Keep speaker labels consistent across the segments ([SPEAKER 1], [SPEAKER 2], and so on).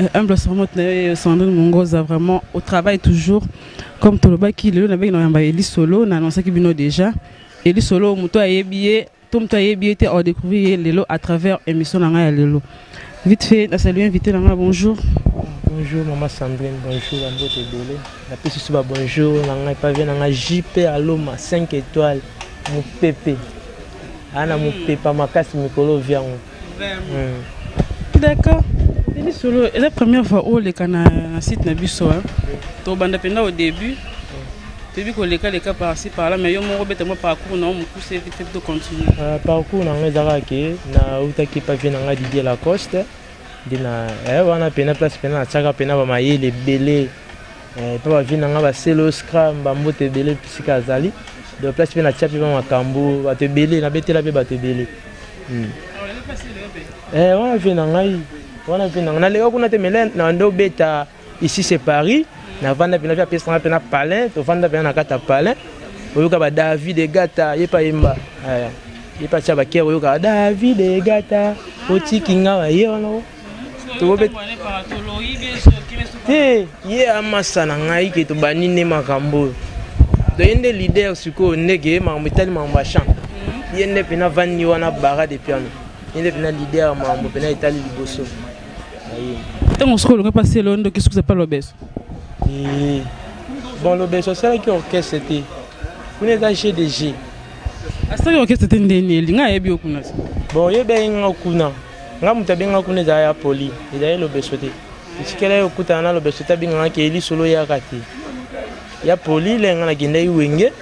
[SPEAKER 1] Euh, humble servante na yo sandrine mongoza vraiment au travail toujours comme tolobaki lelo nabeki na yamba eli solo na annoncaki bino déjà eli solo moto ayebi ye to moto ayebi ye te aodécouvrir ye lelo à travers émission na ngai ya lelo vite fait nasalue invité na ngai bonjour bonjour
[SPEAKER 2] mama sandrine bonjour bambote ebele napesi so babonjour na ngai pavie na ngai jp aloma 5 étoile mopepe ana mopepa makasi mikolo viango
[SPEAKER 1] D'accord. Denis Solo, la première fois où les cana site na biso, hein. To banda penda au début. Toyebi koleka leka parci par là mais yo moko beta mwa parcours na yo mokuse ete te continue euh, parcours na ngai
[SPEAKER 2] ezalaka ke nautaki papier na ngai didie lacoste nde na eh, wana mpena place mpena natiaka mpena bamayele ebele Eh, epa bavi na ngai baselo scram bambote ebele esika azali de place mpe natya mpe bamakambo bato ebele nabetela mpe bato ebele hmm. eh, wana vie na ngai wana vie na ngai naleka kuna te mele nande obeta ici c'est paris navanda mpena mpe apesanga mpena palin tovanda mpena na kati ya palin oyoka ba david egata ye mpe ayemba eh, ye mpe atya bakere oyokaka david egata otiki ngai ye wana te ye amasa na ngai ke tobandi nde makambo oyo toye nde leader sikoyo ndeke makambo etali makambo ya champ mhm. ye nde mpena vandi wana bara de piano ye nde mpena leader ya makambo mpena etali liboso
[SPEAKER 1] ntango mosuku olongi mpasi elo ndoki sukusa mpa lobeso eh,
[SPEAKER 2] bon lobeso asalaki orchestre te kuna eza jeu de jeu asalaki
[SPEAKER 1] orchestre te ndeni elinga ayebi yo kuna bon oyebi ayinga
[SPEAKER 2] kuna Nga moto abengaka kuna ezala ya poli, ezali lobeso te. Etikela ye okutana na lobeso te abengaka ke lisolo eyaka te. Ya poli le nga nakendaki wenge,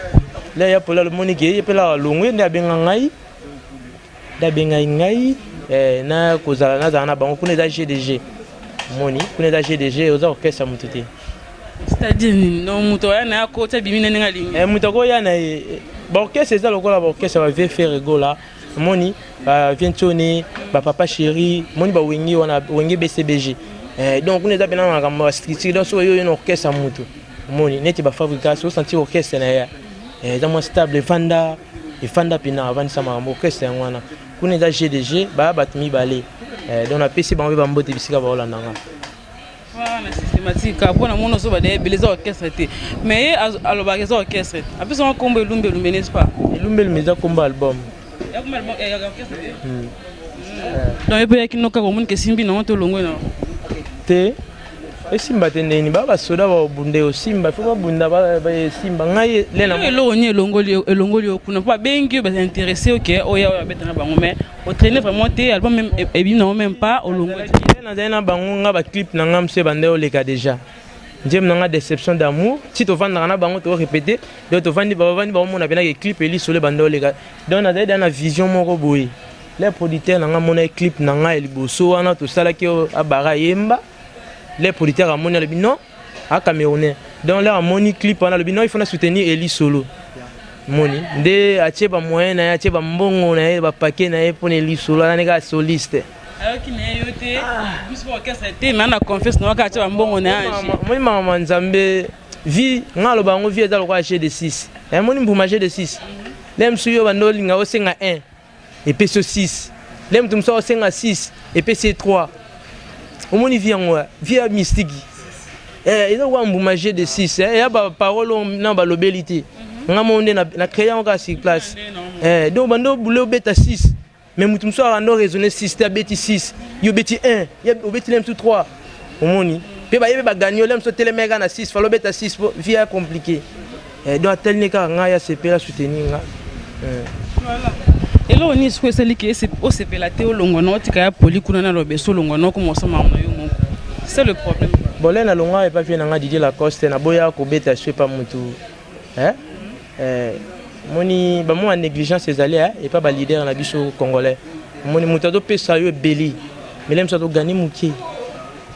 [SPEAKER 2] le ya poli alomoni ke ye pela alongwe nde abenga ngai. Nde abengaki ngai eh, na kozala nazala na bango kuna eza GDG. Moni, kuna eza GDG oza kokesa moto te. C'est-à-dire
[SPEAKER 1] nini? Non moto aya na yako tia bimi na ndenge alingi. Eh moto akoya na ye.
[SPEAKER 2] Ba orchestre eza lokola ba orchestre ba vieux ferre gola. omoni ba vientione ba papa chéri omoni ba wenge wana wenge bcbg eh, donc kuna eza mpena makambo ya structure donc soki oyo na orchestre ya motu omoni neti ba fabrikas osentir orchestre na ye eh, eza mwa stable efanda efanda mpena avandisa makambo orchestre yango wana kuna eza gdg baya bato mibale eh, donc napesi bango mpe bambote bisika baolanda ngai
[SPEAKER 1] wana systématique kaka mpo na mona ozoba da ebele eza orchestre te mais ye alobaka eza orchestre apesa ngo nkombo elumba elumba n'est ce pas elumba elumba eza nkombo
[SPEAKER 2] album
[SPEAKER 1] donc ye mpe yaki noka komoni ke simbi nango to olongwe nango te
[SPEAKER 2] esimba te ndeni ba basoda babunda osimba fo babunda esimba ngai lena eloko nini
[SPEAKER 1] elongoli yo kuna mpo babengi yo bainteresse oke oya oyo abeta na bango mais otraine vraiment te album meme e, ebimi nango meme pas olongozali na bango
[SPEAKER 2] nga baclip na nga mso ebanda oleka déjà nzembo na nga déception d'amour ti tovandaka na bango tokorepete donc tovandi bavandi bakomona mpenaka eclip elisolo ebanda oleka donc nazali da na vision moko boye le producteur na nga amonaki clip na nga ya liboso wana tosalaki abara yemba le producteur amoni alobi non a camerounais donc là amoni clip wana alobi non il faut na soutenir eli solo moni nde atie ba moyen na ye atie ba mbongo na ye ba paquet na ye pona eli solo anani kaka soliste ayoki na ye yo
[SPEAKER 1] te biso ba orchestre te mais na confiance na waka atie ba mbongo na ye moni mama
[SPEAKER 2] nzambe vie nga aloba yango vie eza lokola jeu de 6 emoni mbuma jeu de 6 nde mosusu yo banda olinga osenga 1 epesi yo 6 le moto mosusu akosenga 6 epesi ye 3 omoni vi yango eh? vi ya mistiki eh, eza koka mbuma je de 6 eh, ya baparole oyo na balobeli te mhm. nga moko nde na créa yango kaka sur place donc bande obule obeta 6 mais moto mosusu akanda oraisonne 6 te abeti 6 yo obeti 1 obeti le mosusu 3 omoni mpe bayebi bagani yo le mosusu otelemeka na 6 fala obeta 6 po vi ya compliqué eh, donc atali ne kaka ngai asepela soutenir nga eh. voilà.
[SPEAKER 1] eloko nini soki esali ke osepela te olongwa na otika ya poli kuna na lobeso olongwa na okoma osama na yo moko c'est le problème bole na longwa epa
[SPEAKER 2] vie na nga didie lacoste naboya kobeta so epa motu eh? eh, moni bamwa négligence ezali eh? epa baleader na biso congolais omoni moto azopesa yo ebeli mele mosu azogani moke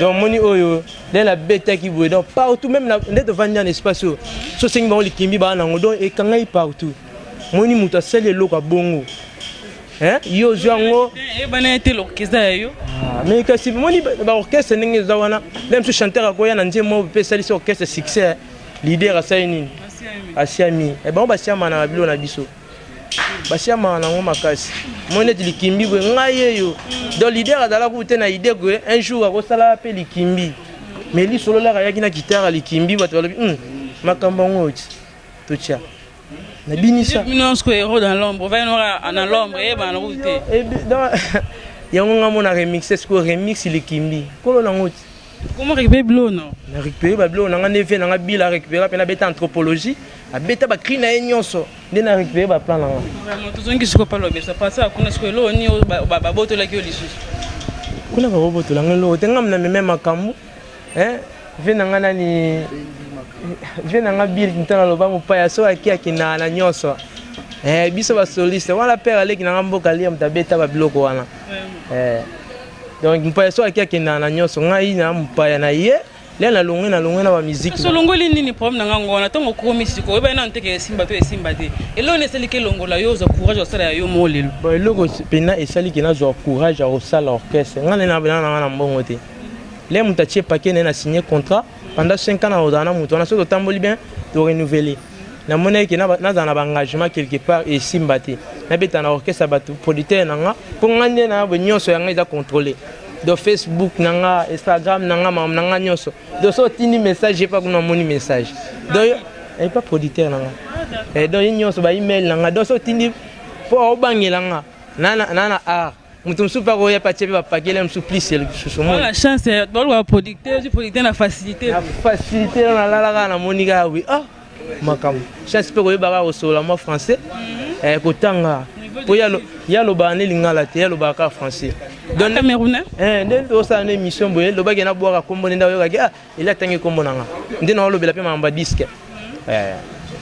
[SPEAKER 2] donc moni oyo nde nabetaki boye donc partout même nde tovandi na espace oyo so osengi bango likimbi baa nango donc ekangai partout moni moto asali eloko ya bongo yo ozwi yango eyebana ete
[SPEAKER 1] l'orchestre ya yo ah, mais kasi
[SPEAKER 2] moni baorchestre ndenge eza wana meme so chanteur akoya na nzembo oyo mpe esalisi orchestre succès leader asali nini asiami eh, bango basiamanaka bilo na biso basi ya mawa nango makasi moi neti likimbi boye ngai yeyo donc lider azalaka kutu te na idee ke un jour akosala mpe likimbi mais lisololaka ayaki na kitara likimbi bato balobi hmm, makambo yango oti totya nabinisa yango ngai mona remixe sikoyo remix likimbi kolo nango ti Comment récupérer bilo
[SPEAKER 1] non Na récupérer ba bilo na
[SPEAKER 2] nga neveu na nga bila récupérer pe na beta anthropologie, abeta ba cri na ye nyonso nde na récupérer ba plan na nga. Vraiment tozongi siko
[SPEAKER 1] pa lobesa pasa kuna siko elo ni ba botolaki yo lisusu. Kuna
[SPEAKER 2] ba bobotola nga elo te nga na meme makambo hein vie na nga nani vie na nga bil ntana loba mopaya so aki akina na nyonso eh biso ba soliste wala père aleki na nga mboka liam tabeta ba biloko wana eh donc mpaya so aki akendaka na nyonso ngai na mpaya na ye lia na longue na longue na bamiziki solongoli nini problème
[SPEAKER 1] na ngango wana ntango okomi siko oyebaki nano teke esimba to esimba te eloko nini esaliki elongola yo ozwa courage ya kosala ya yo moo lelo bon eloko mpena
[SPEAKER 2] esaliki nazwa courage ya kosala orchestre ngai nde nabelana na ngai na mbongo te le moto atie pake naye na signe contrat pendant 5 ans na ozala na moto wana soki totamboli bien torenouveler namonaki ke nazala na baengagement quelque part esimba te nabeta na orchestre ya bato producteur na nga mpo nga nde na nyonso ya ngai eza contrôle donc facebook na nga instagram na nga makambo na nga nyonso donc so otindi message epa kuna amoni message donc epa producteur na nga eh, donc ye nyonso ba email na nga donc so otindi mpo obangela nga na na art moto mosusu mpe akoya mpe atye mpe bapakele mosusu plus lisusu mona chance
[SPEAKER 1] eh, baluka producteur ozwi producteur na facilité na facilité na
[SPEAKER 2] nalala kaka namoni kaka wi ah makambo chance mpe koyeba kaka kosolola mwa français mhm. eh, kotanga mpo ye alobaka nde lingala te ye alobaka kaka français ah, eh, nde
[SPEAKER 1] osala na
[SPEAKER 2] émission boye lobaki nabwaka nkombo nde nde oyokaki ah, Elie atangi kombo na nga. Nde na olobela pe mamba disque. Mhm. Eh.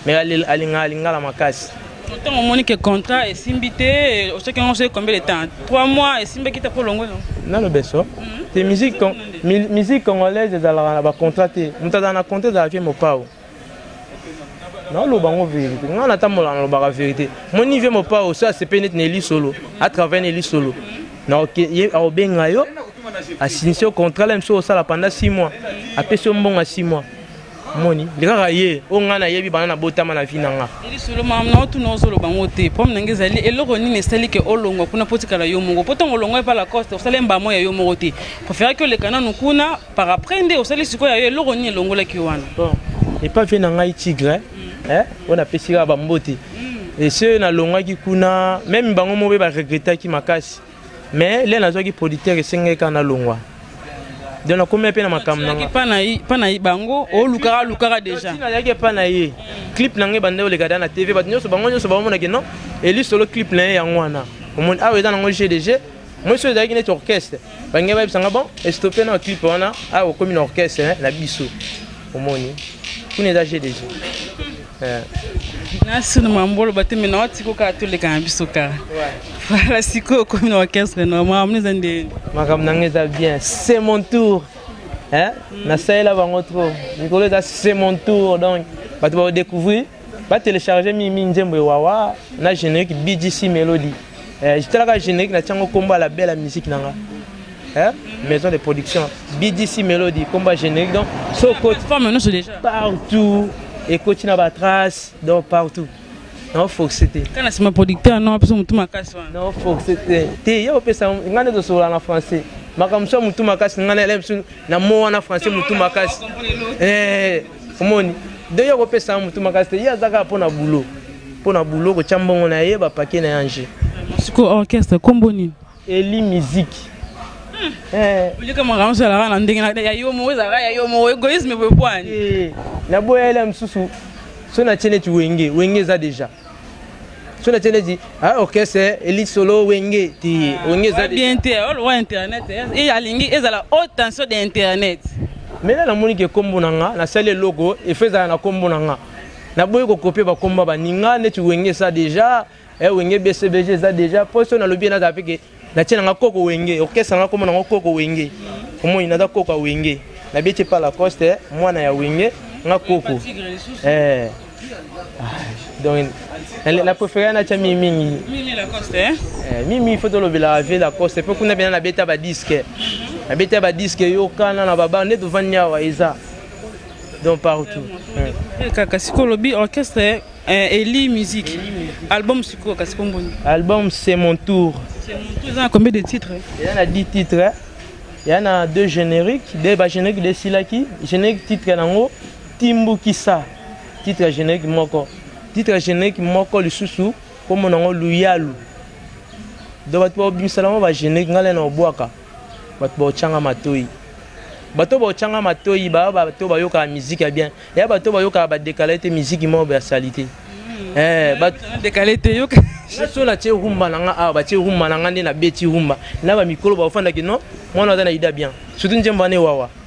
[SPEAKER 2] Mais alinga alinga la makasi. Ntango omoni ke
[SPEAKER 1] contrat esimbi te osoki yango soki combien de temps 3 mois esimbaki te mpo olongwe no nano beso mhm.
[SPEAKER 2] te musique congolaise ezalaka na bacontrat te moto azala na contrat ezalaka mpe mopao naoloba yango verité ngai natambola nalobaka verité moni vie mopao so asepe neti na elisolo atravai na elisolo aobenga yo asinisi yo contrat la mosusu osala panda 6 mois apesi yo mbongo ya 6 mois moni nde kaka ye oyo ngai nayebi bana nabotama na vi na nga lisolo mama na
[SPEAKER 1] otuna ozoloba yango te problème na ngai ezali eloko nini esali ke olongwa kuna mpo otikala yo moko mpo ntango olongwa epa lacoste osala mbamo ya yo moko te preferaki oleka nanu kuna par après nde osali sikoyo yayo eloko nini elongolaki wana bon epa
[SPEAKER 2] vie na ngai tigre mm. eh, oyo napesi kaka bambote mm. ese nalongaki kuna meme bango moko mpe baregretaki makasi mais le nazwaki producteur esengaki kaka nalongwa donc nakomia mpe na makambo nangapana bango
[SPEAKER 1] olukaka alukaka dejanazalaki epa na ye
[SPEAKER 2] clip na ngai banda oleka da na tv bato nyonso bango nyonso baomonaki non elisolo clip na ye yango wana omoni awa eza nango gdg mwesi oyo ezalaki neti orchestre bange bayebisa nga bon estope na clip wana awa ah, okomi na orchestre eh, na biso omoni kuna eza jeu de jeu eh.
[SPEAKER 1] nasino mambolo bateme na watiko kaka toleka na biso kaka voilà sikoyo okomi na orchestre na makambo eza nde makambo nanga eza
[SPEAKER 2] bien c'est mon tour eh? nasalela bango trop mikolo eza c'est mon tour donc bato baodécouvrir Ba telecharger mingi mingi nzembo ewawa na generique BGC Melody. Eh, jitalaka generique na tiango kombo ya la belle musique nanga. Hein? Maison de production BGC Melody kombo ya generique donc so coach femme nous déjà
[SPEAKER 1] partout
[SPEAKER 2] et coach na ba trace donc partout. Non force te. Kana sima producteur
[SPEAKER 1] non apesa mutu makasi wana. Non force te.
[SPEAKER 2] Te yo pesa ngane to sola na français. Makamso mutu makasi ngane lem na mo wana français mutu makasi. Eh omoni de yo kopesa ya motu makasi te ye aza kaka mpo na bulo mpo na bulo kotya mbongo na ye bapake na ye ange siko orchestre
[SPEAKER 1] kombo nini eli miziki
[SPEAKER 2] eh.
[SPEAKER 1] olika makambo ozalaka na ndenge ya yo moko ezalaka ya yo moko egoïsme boye bwani eh, naboya ele ya
[SPEAKER 2] mosusu so natye neti wenge wenge eza deja so na tiene di ah orchestre eli solo wenge ti ah, wenge za bien te ol wa
[SPEAKER 1] internet e alingi ezala haute tension de internet mais là namoni
[SPEAKER 2] ke kombo na nga nasali eloko efezala na kombo na nga naboyi kokopie bakombo baninga neti wenge eza deja eh, wenge bcbg eza deja mpo so nalobi ye nazala mpe ke natie nanga koko wenge orchestre nanga komona ngo koko wenge omoni naza koko ya wenge nabeti epa lacoste mwana ya wenge nga koko eh. ah, donc na préféré natya mimi mingi
[SPEAKER 1] eh? eh, mimi fo
[SPEAKER 2] tolobelaka vie lacoste mpe kuna mpena nabeta badiske nabeta badiske yokana na baba nde tovandi awa eza donc partout kaka
[SPEAKER 1] sikoyo olobi orchestre Eh, Eli Musique. Eli musique. Album sikoyo kasi kombo nini? Album c'est mon
[SPEAKER 2] tour. C'est mon tour eza na combien
[SPEAKER 1] de titres? Eza na 10 titres.
[SPEAKER 2] Eza na deux génériques, deux ba génériques de silaki, générique titre nango Timbukisa. Titre générique moko. Titre générique moko lisusu kombo nango Luyalu. Donc bato babimisa nango ba générique ngale na obwaka. Bato baotyanga matoi. Bato baotyanga matoi baya bato bayokaka miziki ya bien. Eya bato bayokaka badekala ete miziki moko ya salite. Hmm. Eh, badekala ete yoka.
[SPEAKER 1] Naso natye rumba
[SPEAKER 2] na nga awa batye rumba na nga nde nabeti rumba na bamikolo baofandaki no mwana aza na ida bien surtout nzembo wana ewawa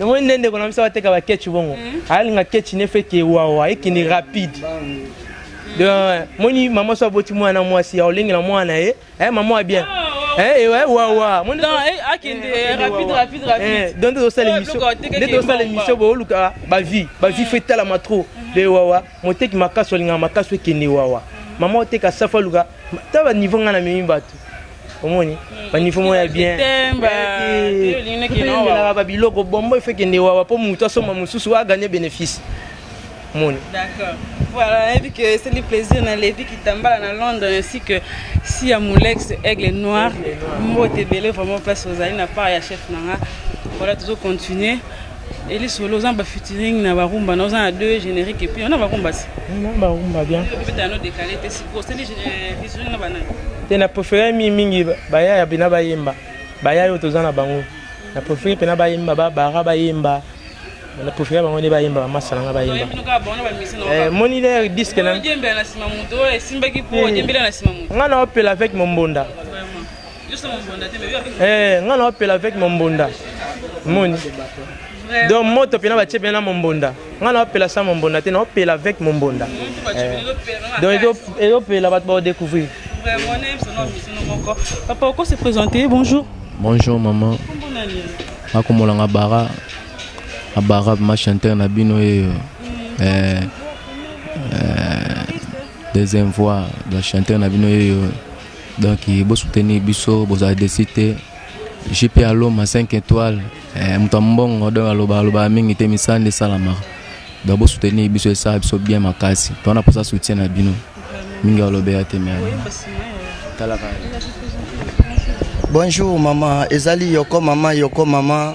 [SPEAKER 2] yango nde ndeko na biso bateka baketch bongo hmm. alinga ketch ne feke wawa ekende rapide hmm. moni mama so aboti mwana mwasi ya olengela mwana na ye eh, mama ya bien oh, oh. eh, eh, wawa
[SPEAKER 1] donc tozosala émission
[SPEAKER 2] nde tozosala émission booluka bavie bavie fo etalama trop de wawa moteki makasi olingaka makasi ekende wawa mama oteka safu aluka ta baniveau ngai na memi bato omoni banifo moko ya bienelaka babiloko bombo ife kende wawa mpo moto asomba mosusu aganye bénéfice moni
[SPEAKER 1] voilà nayebi ke esali plaisir na levi kitambala na london ainsi que si ya molex aigle noir mbote ebele vraiment place ozali na part ya chef na nga voilà tozo continuer Eli solo oza ba featuring na ba rumba na oza na deux générique et puis on a ba rumba si. Na ba rumba bien.
[SPEAKER 2] Peut être no décalé
[SPEAKER 1] te si ko seli euh, featuring na banana. Te na préféré
[SPEAKER 2] mi mingi ba ya bina ba yemba. Ba ya yo toza na bango. Na préféré pena ba yemba ba bara ba yemba. Na préféré bango ne ba yemba ba masala nga ba yemba. Eh moni le disque na. Yemba na sima muto esimbaki po yembela na sima muto. Nga na opela avec mon bonda. Eh, nga na opela avec mombonda moni donc moto pena batie pena na mombonda nga na opela sa mombonda te na opela avec mombonda eh. donc ezopela bato baodécouvrir
[SPEAKER 1] papa oko se présenter bonjour bonjour maman
[SPEAKER 3] nakomola nga bara abara ma chanteur na bino yeyo mm. eh, deuxième voix ba chanteur na bino yeyo donc bo soutenir biso bozala desi te jp aloma 5 étoile eh, moto ya mbongo donc aloba alobaka mingi te misala nde esalamaka donc bo soutenir biso esala biso bien makasi to wana mposa soutien na bino mingi alobela te me
[SPEAKER 4] talaka bonjour mama ezali yoko mama yoko mama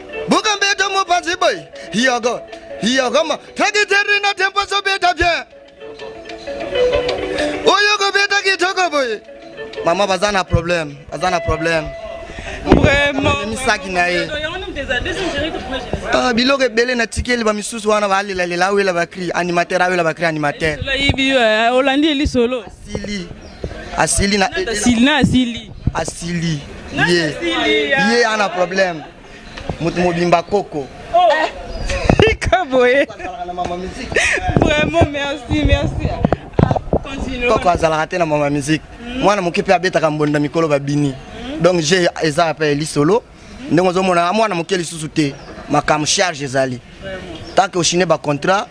[SPEAKER 4] Buka mbeto mopasi boy. Yoko. Yoko ma. Taki terri na tempo so beta bien. Oyo ko beta ki toko boy. Mama bazana problem. Bazana problem.
[SPEAKER 1] Vraiment. Misaki na ye.
[SPEAKER 4] Ah, biloko ebele na tikeli ba misusu wana balela lela awela bakri animateur awela bakri animateur.
[SPEAKER 1] Olandi elisolo. Sili.
[SPEAKER 4] asili na asili na asili asili ye ye ana problème moto mobimba koko oh. eh. tika boye
[SPEAKER 1] vraiment merci merci ah, koko azalaka te
[SPEAKER 4] na mama musique hmm. mwana moke mpe abetaka mbonda mikolo babini hmm. donc je eza mpe lisolo ndenge ozomona mwana moke lisusu te makambo charge ezali tanke oshine bacontrat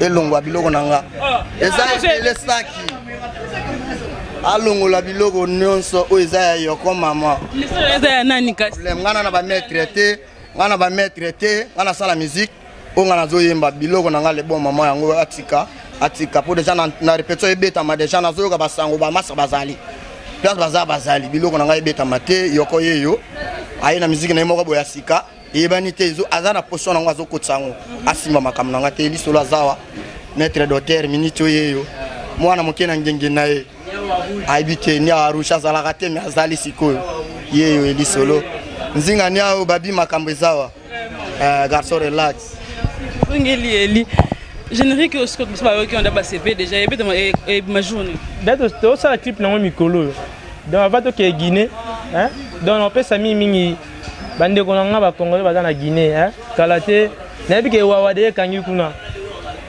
[SPEAKER 4] elongwa biloko na nga eza ebele saki alongola biloko nyonso oyo eza ya yoko mama eza ya nani
[SPEAKER 1] kasi nga na bamaitre
[SPEAKER 4] te nga na bamaitre te nga nasala miziki oyo nga nazoyemba biloko na nga lebon mama yango atika atika mpo deja na repetition ebetama deja nazoyoka basango bamasa bazali place baza bazali biloko na ngai ebetama te yoko yeyo aye na miziki na ye moko boya sika eyebani te aza na position nango azokotisa yango mhm. asimba makambo na nga te lisolo azawa maître doter miniti oyo eyo mwana moke na ngenge na ye ayebi te niawa rouge azalaka te me azali sikoyo yeyo elisolo nzinga niawo babi makambo ezawa eh, garçon relax ongeli
[SPEAKER 1] eli générique oyo sikoyo biso bayoki onda basepe déjà ebetama e, e, majourne date tosala clip
[SPEAKER 2] nango mikolo oyo donc ava tokee guinée donc napesa mingi mingi bandeko na nga ba congolais baza na guinée eh? kala te nayebi ke ewawa de ekangi kuna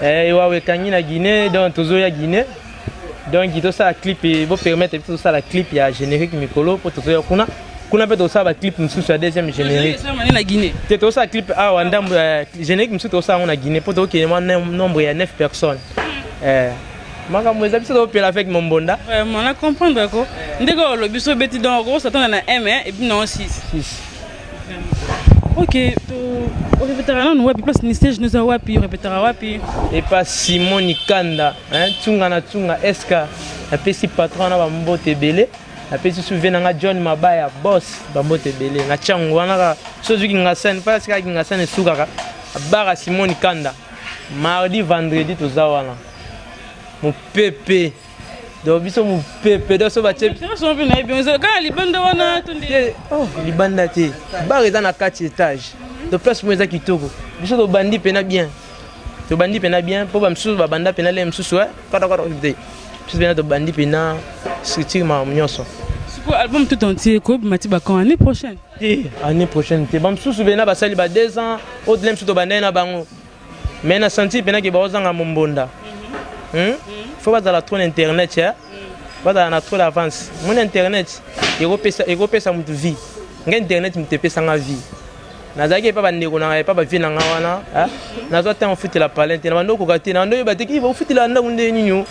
[SPEAKER 2] eh, ewawa ekangi na guinée donc tozoya guinée donc tosala clip bopermettre biso tosala clip ya générique mikolo mpo tozoya kuna kuna mpe tosala baclip mosusu ya deuxième générique te
[SPEAKER 1] tosala clip awa
[SPEAKER 2] ndambo eh, générique mosusu tosala yango na guinée mpo tokende mwa nombre ya 9 personnes eh. makambo eza biso topela avec mombonda vraiment na comprendre
[SPEAKER 1] ko ndenge olobi so obeti donc okosatana na m ebi nango 6 ok orepetaka nanu wapi place ministère jeunesse ya wapi orepetaka wapi epa simon
[SPEAKER 2] nikanda ntunga na ntunga eske napesi patron na bambote ebele napesi suve na nga john mabaya bos bambote ebele na tiango wana kaka so ozwi kingasani mpo asikaka kingasani esukaka abaka simon nikanda mardi vendredi toza wana mopepe donc biso mopepe donc so batie oh,
[SPEAKER 1] libanda te
[SPEAKER 2] bar eza na kati etage donc place mo eza kitoko biso tobandi mpena bien tobandi mpena bien mpo bamosusu babanda mpena lei mosusu eh, katakwata te biso mpena tobandi mpena structure makambo nyonso album
[SPEAKER 1] tout entier ekobima ti bakan année prochaine te année prochaine te
[SPEAKER 2] bamosusu bena basali ba 2 ans au delà mosusu tobandai na bango mais na senti mpena ke baozanga mombonda hmm? hmm? fo bazala trop na internet ya hmm. bazala na trop d'avance mona internet ekopesa motu vie nga internet motu epesa nga vie nazalaki epa bandeko nanga epa bavie nanga wana nazwa ntango ofutela palin te na bando okoka te na bando oyeba te kiva ofutela ndako nde nini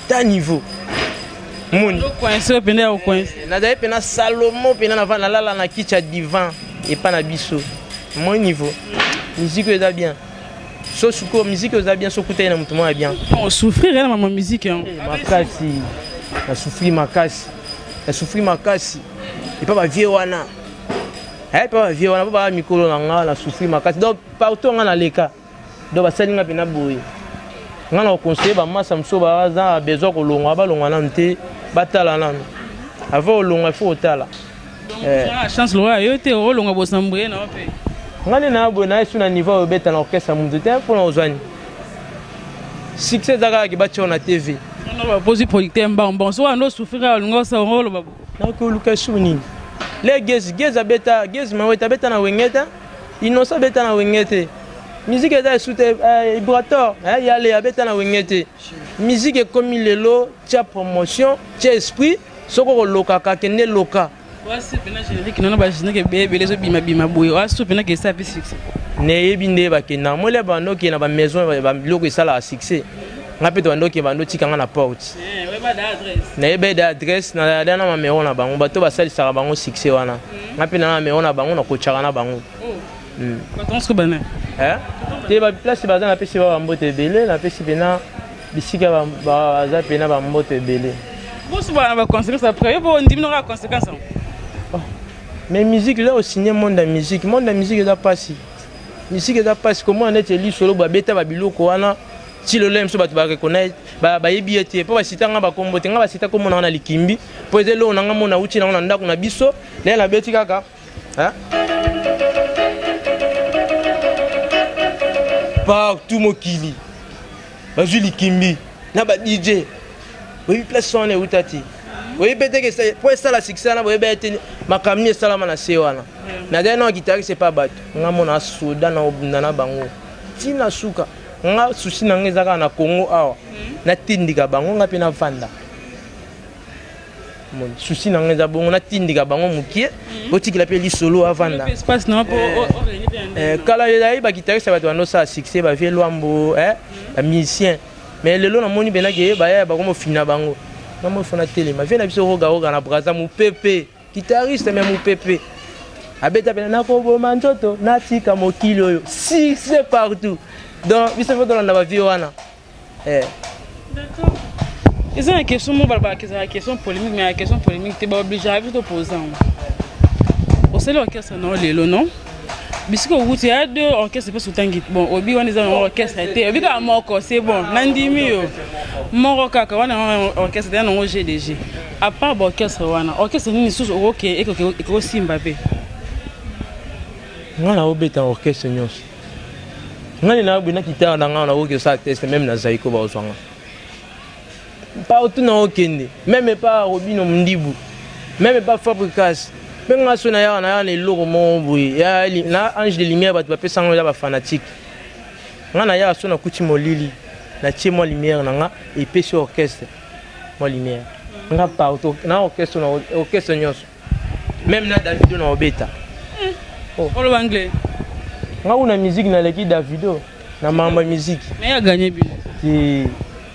[SPEAKER 2] ta niveau
[SPEAKER 1] moni nazali mpena salomo
[SPEAKER 2] mpena nava nalala na kiti ya divan epa na biso moi niveau miziki oyo eza bien so sikoyo miziki oyo eza bien so okutani na moto moko ya bien osouffrir na mama
[SPEAKER 1] miziki yango eh, makasi
[SPEAKER 2] nasouffri makasi nasouffri makasi epa bavie wana epa eh, bavie wana po baa mikolo na nga nasouffri makasi donc partout nga naleka donc basali nga mpena boye nga na koconseille bamasa mosusu baza besoin kolongwa balongwa nanu te batala nanu avant olongwa ifo otala eh.
[SPEAKER 1] chance lokola yo te olongwa bosamboye na mpe nga nde naa boye
[SPEAKER 2] naye su na niveau oyo obeta na orchestre ya moto te mpo na ozwani succès eza kaka kibatiao na tv baposi
[SPEAKER 1] producteur mbango mbango soki wana osufrika olinga osala oloba nakoki oluka esuku
[SPEAKER 2] nini le gezi gezi abeta gezi mawete abeta na wengeta Innocent beta na wenge te. Musique eza esu te eh, Ibrator eh, ya Lea beta na wenge te. Musique ekomi lelo tia promotion, tia esprit, soko kolokaka kende loka. Wasi pena
[SPEAKER 1] générique nono ba générique ebele ebele ezo bima bima boye. Wasi pena kesa pe succès. Nayebi nde
[SPEAKER 2] bakenda mole bando okende na ba maison ba biloko esalaka succès. Nga pe to bando okende bando tika nga na porte. Eh, weba da adresse. Nayeba da adresse na da na mamero na bango bato basalisaka bango succès wana. nga mpe naa mero na bango nakotyaka na bango hmm.
[SPEAKER 1] hmm. eh? te
[SPEAKER 2] baplace baza napesi ba bamboto ebele napesi mpena bisika baza mpena bamboto ebele bosubana
[SPEAKER 1] baconséquence après yo bondimi noka baconséquence yango oh.
[SPEAKER 2] mais musique là osigne monde ya musique monde ya musique eza mpasi musique eza mpasi komona neti elisolo babeta babiloko wana ti lelo ye mosusu bato bareconnaître ba bayebi ye te mpo basita nga bakombo te nga basita kombo nanga na likimbi mpo eza eloko na nga mona uti nango na ndako na biso lele nabeti kaka partout mokili bazwi likimbi na ba dj oyebi place wana euta te oyebi mpe teke mpo esala succès wana boyebi ete makambo nini esalama na se wana nazali nao guitariste mpe bato nga mona soda na obunda na bango ntina suka nga souci na nga eza kaka na congo awa hmm. natindika bango nga mpe navanda souci na nga eza bongo natindika bango mokie hmm. otikela mpe lisolo avanda
[SPEAKER 1] eh, eh, kala
[SPEAKER 2] ezalaki bakitariste ya bato bandosala succès bavie lwambo eh, hmm. bamusicien mais lelo namoni mpenza ke baya bakoma ofina bango namoni fona telema vie na biso rogaroga na braza mopepe Guitariste mais mupepe. Abeta pena nakoboma nzoto natika mokili oyo. Si c'est partout. Donc biso faut tolanda ba vieux wana. Eh.
[SPEAKER 1] D'accord. eza na question moko balobaka ezala question polémique mais ya question polémique te baobligeaka biso toposa yango osali orchestre nao lelo non bisika okuti ya de orchestre mpe sotangi bon obi wana eza nango orchestre te obi kaka moko c'est bon nandimi yo moko kaka wana orchestre te ya nango gdg A part ba orchestre wana, orchestre nini lisusu okoke ekosimba mpe?
[SPEAKER 2] Nga naobeta orchestre nyonso. Nga nde naobe na kitare na nga nakoki kosala test meme na Zaiko baozwa nga. Partout naokende, meme epa Robino Mundibu, meme epa Fabricas, mpe nga so nayaka nayaka na eloko moko boye ya na ange de lumière bato bapesa nga ya bafanatique nga nayaka so nakuti molili natie mwa lumière na nga epesi orchestre mwa lumière nga partout na orchestre na orchestre nyonso même na davido na obeta oh.
[SPEAKER 1] oloba anglais nga kuna
[SPEAKER 2] musique naleki davido na mambo ya musique mais ya gagner bi
[SPEAKER 1] ti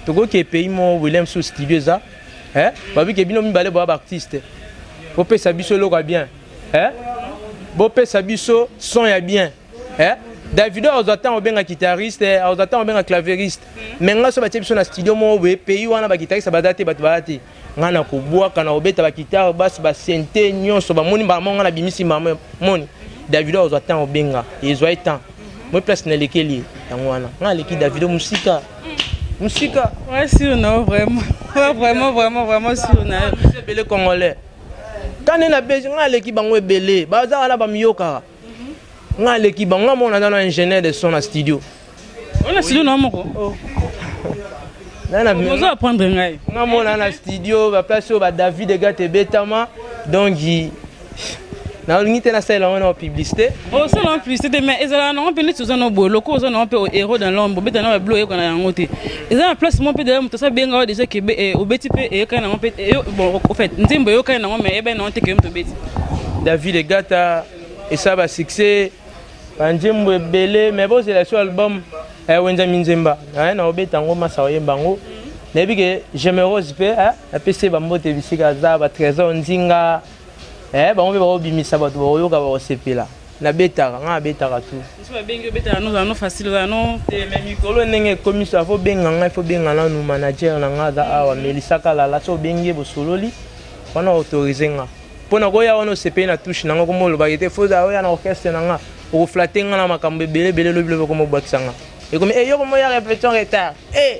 [SPEAKER 2] tokoki pays mo William sous studio eza eh babi ke bino mibale ba artiste bopesa biso eloko ya bien eh bopesa biso son ya bien eh? davido azwa ntango obenga guitariste eh, azwa ntango obenga claveriste me hmm. ngai so batye biso na studio moko boye pays wana baguitariste baza te bato baza te ngai nakobwaka na kobeta bagitare basi basente nyonso bamoni mbala moko ngai nabimisi mbala moni davido azwa ntango obenga ezwa ye temps hmm. moi place nalekeli ye yango wana ngai aleki davido mosika mosika
[SPEAKER 1] ouais, sur na vraiment ouais, vraiment vraiment vraiment sur na yo ebele congolais
[SPEAKER 2] kani na besi ngai aleki bango ebele baza wana bamiyokaka nga aleki bango nga mona nano ingénieur de son na studio ona
[SPEAKER 1] studio na moko
[SPEAKER 2] oh. ozo apprendre ngai
[SPEAKER 1] nga mona na studio
[SPEAKER 2] baplace oyo badavid egat ebetama donc nalingi te nasalela yango na publicité osala oh, na publicité
[SPEAKER 1] te mais ezalaka nango mpe neti oza na boye lokola oza nango mpe héros dans l'ombre obeta na babilo oyekoka na yango te eza na place moko mpe deja moto asabenga yo deja kebe eh, obeti mpe eyokani nango mpe eh, bon au fait nzembo eyokani nango mais eyebani nango te kebe moto obeti david
[SPEAKER 2] egata esala basuccès banzembo ebele mais bozela so album ya eh, wenza minzemba naye na obeta yango masa oyemba yango nayebi ke gemerose mpe apesi ye bambote bisika aza batrésor nzinga Eh, bango mpe bakobimisa bato bakoyoka bakosepela nabetaka ngai nabetaka tu eh,
[SPEAKER 1] mikolo ndenge
[SPEAKER 2] ekomisa fo benga ngai fo benga nanu manager na ngai aza awa melisa kalala so obengi ye bosololi wana autorise nga mpo nakoya wana osepeli na touche na ngai koma olobaki te fo oya na orchestre na ngai okoflate ngai na makambo ebele ebele lobi lobi okomobwakisa ngai ekomi eyoko eh, moya repetition retard eh,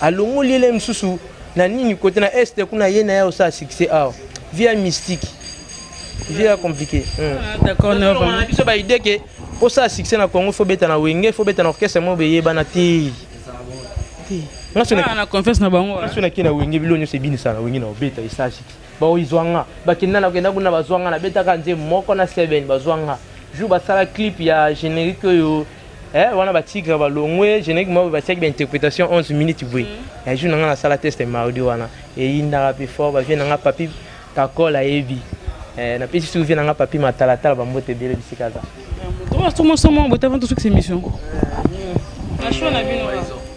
[SPEAKER 2] Alongoli ye lisusu na nini kote na est kuna ye na ye osala succès awa via mystique via compliqué ah,
[SPEAKER 1] biso
[SPEAKER 2] baide ke osala succès na congo fo beta na wenge fo beta na orchestre moko beyebana te na
[SPEAKER 1] confiance na bango naso nake na wenge bilo nyonso
[SPEAKER 2] ebinisa na wenge na obeta esala succès baoizwa nga bakenda na kenda kuna bazwa nga nabetaka nze moko na seven bazwa nga jour basala clip ya générique oyo eh wana ba tigre ba longwe générique moko batiaki ba interprétation 11 minutes boye mm. ya jour na nga nasala test mardi wana eyindaka pe fort bavie na nga papi kakol ayebi eh, napesi soki vie na nga papi matalatala bambote ebele bisika aza tomosomo
[SPEAKER 1] botavanto soki se mission na choix na bino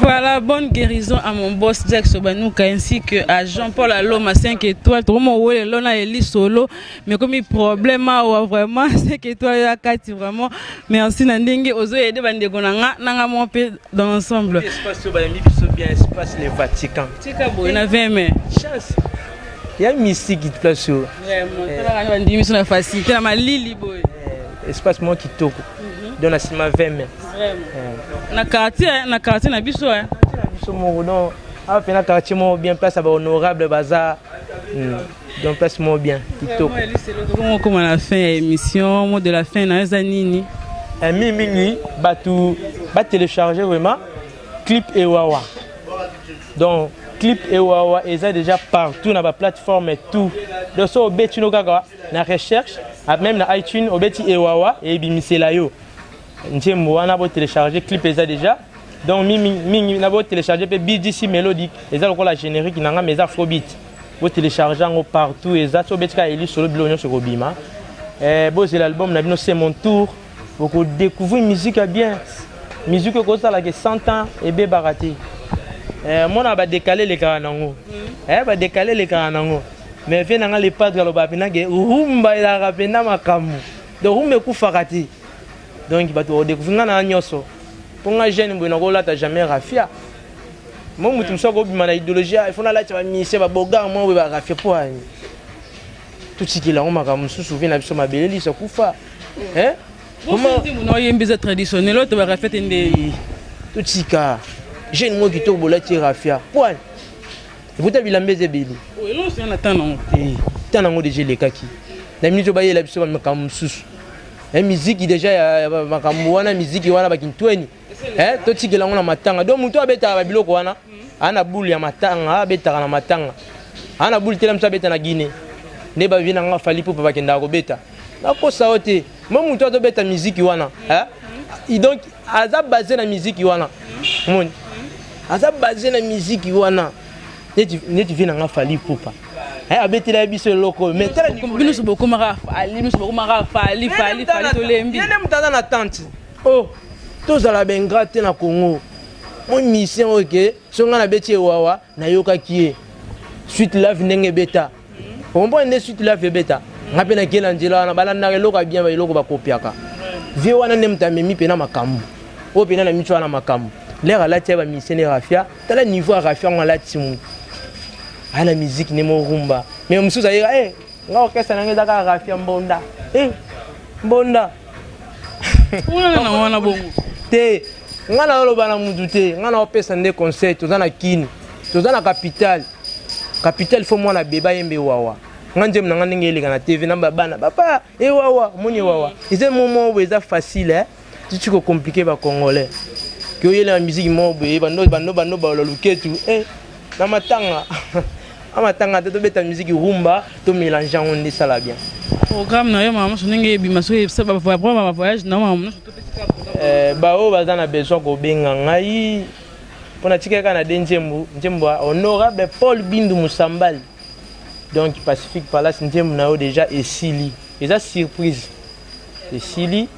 [SPEAKER 2] Voilà,
[SPEAKER 1] bonne guérison à mon boss Jack Sobanuka ainsi que à Jean-Paul Aloma 5 étoiles. Trop mon wole lona eli solo. Mais comme il problème a ah, vraiment 5 étoiles ya kati vraiment. Merci na ndenge ozo aider bande ko nanga nanga mon pe dans l'ensemble. Espace so ba mi biso
[SPEAKER 2] bien espace le Vatican. Tika boy na 20
[SPEAKER 1] mai. Chance.
[SPEAKER 2] Ya mystique qui place. Vraiment.
[SPEAKER 1] Tala na ndimi so na facilité na malili boy. Eh, espace moi
[SPEAKER 2] kitoko. Mhm. donc na nsima 20 mai eh. na
[SPEAKER 1] quartier na quartier na biso eh. na biso moko donc
[SPEAKER 2] awa mpe na quartier moko bien place ya bahonorable baza hmm. donc place moko bien kitokokoma na
[SPEAKER 1] fin ya émission mot de la fin na eza nini eh, mingi mingi
[SPEAKER 2] bato batelecharge vraiment clip ewawa donc clip ewawa eza déjà partout na baplateforme tout donc so obetino kaka na recherche ah, meme na iTunes obeti ewawa et ebimisela yo nzembo wana bo télécharger clip eza déjà donc mingi mingi na bo télécharger pe BDC melodic eza lokola générique na nga mais eza faux beat bo télécharger yango partout eza so obeti ka eli solo bilo nyonso ekobima eh, bozela album na bino c'est mon tour oko découvrir musique ya bien musique ekozala ke 100 ans ebebaka te eh, mona badekale elekaka nango mm. eh, badekale elekaka nango mais vie nanga le padre alobaka mpenza ke rumba elaka mpenza makambo donc rumba ekufaka te donc bato bakodécouvrir ngai na nyonso mpo ngai jeune boye nakolata jamais rafia mo moto mosusu akobima na idéologie ah, ifo nalati bamisie babogar mwa boye barafia mpo ani totikela yango makambo mosusu vie na biso mabele liso kufa eh comment nzembo
[SPEAKER 1] na oyembi eza traditionnel oyo tobaka fete nde totika
[SPEAKER 2] jeune moko kitoko bolati rafia poil ekuta bilamba eza ebele oh, elonso ya na ntan
[SPEAKER 1] nango eh, ntan nango
[SPEAKER 2] deja elekaki na miniti oyo bayela biso makambo mosusu eh, miziki deja ya makambo wana miziki wana bakintweni eh, totikela yango na matanga donc moto abetaka babiloko wana aa na bule ya matanga abetaka na matanga aa na bule tela moto abeta na guine nde bavie na nga fali pupa bakendaka kobeta nakosa yo te mo moto azobeta miziki wana eh? donc aza base na miziki wana moni aza base na miziki wana neti vie na nga fali pupa Eh, abetela ye biso eloko oyo bino nyonso bokomaka
[SPEAKER 1] fali bino nyonso bokomaka fali fali fali tolembi ye nde moto aza na tante
[SPEAKER 2] Oh, tozala ba ingrat te na Congo. Mon musicien oyo ke so nga nabeti ewawa nayokaki ye suite love ndenge ebeta okomprendre nde suite love ebeta nga mpe nakei na nzela wana balandaka eloko ya bien eloko bakopiaka vie wana nde moto amemi mpe na makambo oyo mpe na na miso wana makambo lere alati ya bamisien ne rafia tala niveau ya rafia yango alati mu aya na miziki nde morumba me mosusu ayeka e eh, nga orkestre na nga ezaka rafia mbonda e mbonda wana
[SPEAKER 1] na wana bongo te
[SPEAKER 2] ngai naoloba na mutu te ngai naopesa nde conseil toza na kini toza na capitale capitale fo mwana beba yembe wawa nga nzembo na nga ndenge eleka na tv na babana papa ewawa eh, omoni ewawa eh, eza momo oyo eza facile eh? tuti kocomplike bacongolais ke oyelaka miziki moko boye bando bando bando balola luketu eh. na matanga a matanga te tobeta miziki rumba to mélange yango nde esala bien programme na yo mama
[SPEAKER 1] moso ndenge ebima soki baprograme ba voyage na yo mama moso eh,
[SPEAKER 2] baoyo baza na besoin kobenga ngai mpo natikaki kaka na de nzembo nzembo ya honorable paul bindu mosambali donc pacifique palace nzembo na yo déjà esili eza surprise esili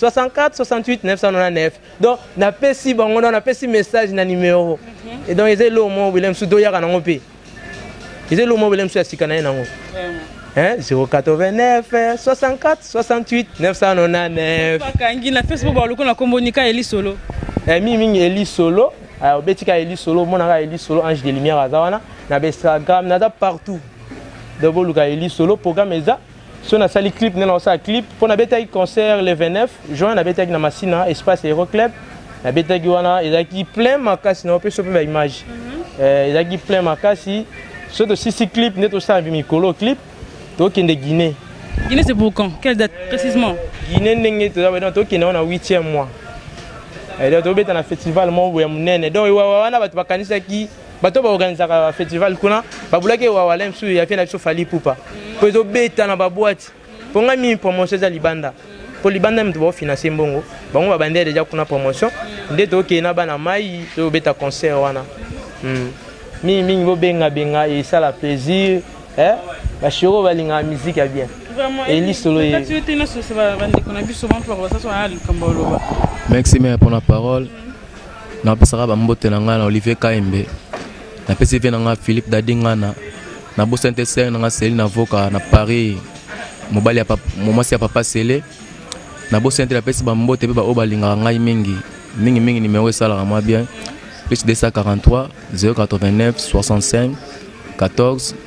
[SPEAKER 2] 64 68 999 donc napesi bango na napesi message na numero mhm. et donc eza eloko moko bile mosusu toyaka nango mpe eza eloko moko bile mosusu ya sika na ye nango 089 64 68 999 bakangi na facebook
[SPEAKER 1] baloko na kombo nika eli solo eh, mingi mingi eli
[SPEAKER 2] solo ah, obeti ka eli solo omonaka eli solo ange de lumière aza wana na bainstagram naza partout donc boluka eli solo programme eza so nasali clip nde nakosala clip mpo nabetaki concert le 29 juin nabetaki na masina espace hero club nabetaki wana ezalaki plein makasi na opesa mpe baimage mhm. eh, ezalaki plein makasi so tosisi clip nde tosala mpe mikolo clip tokende guinée guinée c'est pour quand
[SPEAKER 1] quelle date précisement guinée ndenge
[SPEAKER 2] toza tokende wana 8e mois eh, tobeta na festival moko ya monene donc wana bato bakanisaki bato ba organisaka festival kuna babulaki ewawala mosusu ya vie na biso fali pupa mpo ezobeta na babwati mpo ngai mingi promotion eza libanda mpo libanda moto baofinanse mbongo bango babandela deja kuna promotion nde tokei na bana mai tobeta concert wana hmm. mingi mingi bobengabenga esala plaisir eh? bashero balingaka miziki ya bien elisolo
[SPEAKER 1] ye merci mea
[SPEAKER 3] mpona parole Napesaka ba mbote na ngai na Olivier Kaembe, napesi vie na ngai Philippe Dadi Ngana, na bosani te sœur na ngai Celine Avoka na Paris, mobali ya papa, mwasi ya papa Sele. Na bosani te napesi ba mbote pe ba oyo balingaka ngai mingi mingi mingi, numero esalaka mwa bien plus 243 089 65 14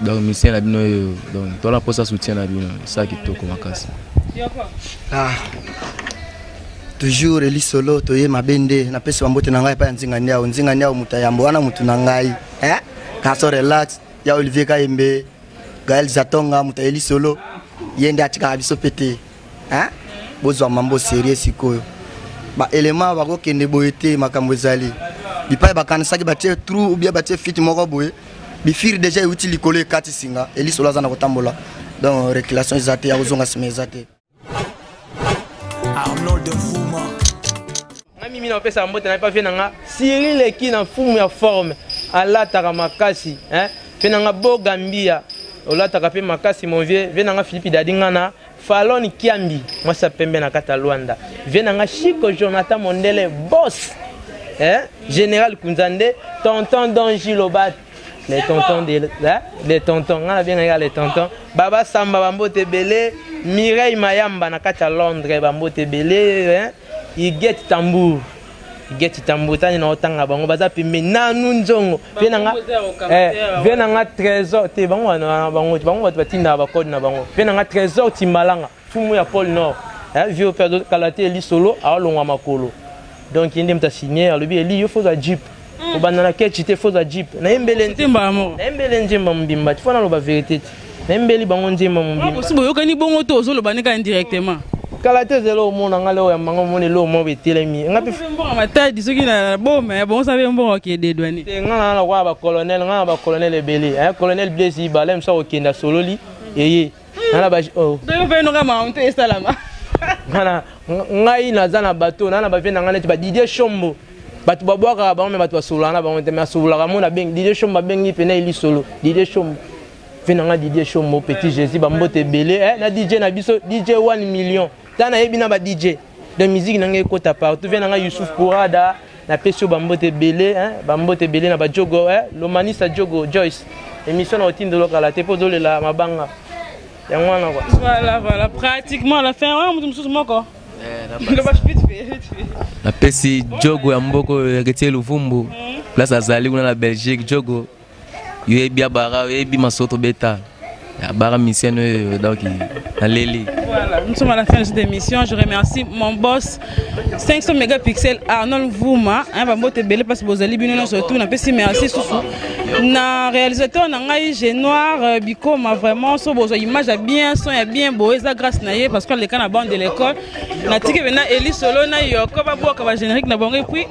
[SPEAKER 3] donc misien na bino oyo donc tola mposa soutien na bino esa kitoko makasi ah.
[SPEAKER 4] toujours elisolo toye mabe nde napesi bambote na ngai epai ya nzinga niao nzinga niao moto ya yambo wana motu na ngai eh? kaso relax ya olivier kayembe gael zatonga moto ya elisolo ye nde atikaka biso mpe te eh? bozwa mambo serie sikoyo baelema bakokende boye te makambo ezali bipai bakanisaki batie trou ou bien batie fiti moko boye bifiri deja euti likolo ekati singa elisolo aza na kotambola donc reculation eza te ya kozonga nsima eza te arnold nfuma
[SPEAKER 2] nga mimi na opesa mbote na epavie na nga siri leki na mfumu ya forme alataka makasi eh? mpe na nga bo gambia olataka mpe makasi mon vieux vie na nga philippe dadi nga na Falon Kiambi, mwasi ya pembe na kata Luanda. Vie na nga Chico Jonathan Mondele, boss. Eh? General Kunzande, tonton Don Gilobat. Les tontons de, hein? les tontons, nga na bien nga les tontons. Baba Samba bambote ebele, Mireille Mayamba na kata Londres bambote ebele, hein? Igette Tambour. Geti tambo tani na otanga bango baza pembe nanu nzongo vie na nga eh vie na nga trésor te bango wana bango bango bato batinda ba code na bango vie na nga trésor timbalanga fumu ya pôle nord eh vie pe kala te lisolo alonga makolo donc yende mta signer alobi eli yo faut la jeep mm. obanda na kechi te foza jeep nayembele nayembele nzemba mobimba tifo naloba verité te nayembeli bango nzemba mobimbaosi ah, boyokani bongo to
[SPEAKER 1] ozoloba ne kaka indirectement kala te ezela
[SPEAKER 2] omona ngai leo ya mbanga omona eloo moko etelemi ngambonga matadi soki
[SPEAKER 1] na boma ya bongo sabe mbongo akededwani te ngai na nakoya
[SPEAKER 2] bacolonel ngai na bacolonel ebele colonel blaise ibala mosu akokenda sololi eye nana ba oh. donc pe noka ma
[SPEAKER 1] honte esalama ngana
[SPEAKER 2] ngai naza na bato nana ba vie na ngai neti ba Didier Shombo bato babwakaka bango me bato basololaka na bango te me asololaka mo na bengi Didier Shombo abengi pe na elisolo Didier Shombo vie na ngai Didier Shombo petit Jésus bambote ebele eh, na DJ na biso DJ 1 million ta na yebi na ba DJ donc musique na nga ekota partout vient na nga Youssouf Pourada na pesi yo ba mbote ebele hein ba mbote ebele na ba Jogo hein Lomanisa Jogo Joyce émission na otindelo kala te po dolela mabanga yango wana quoi voilà voilà
[SPEAKER 1] pratiquement la fin wana mutu mususu moko
[SPEAKER 3] napesi jogo ya mboko ya ketie luvumbu place azali kuna na belgique jogo yoyebi ya bara oyebi masoto beta ya bara misienne oyo donc naleli voilà nous sommes à la
[SPEAKER 1] fin de cette émission je remercie mon boss 500 mégapixels arnold vuma hein, bambote ebele mpasi bozali bino nyonso tout napesi merci susu na réalisateur na ngai genoir euh, bikoma vraiment so bozwa image ya bien son ya bien boye eza grâce na ye parce que aleka na bande de l'école natiki mpena eli solo na yoko babwaka bagénérique na bango epuis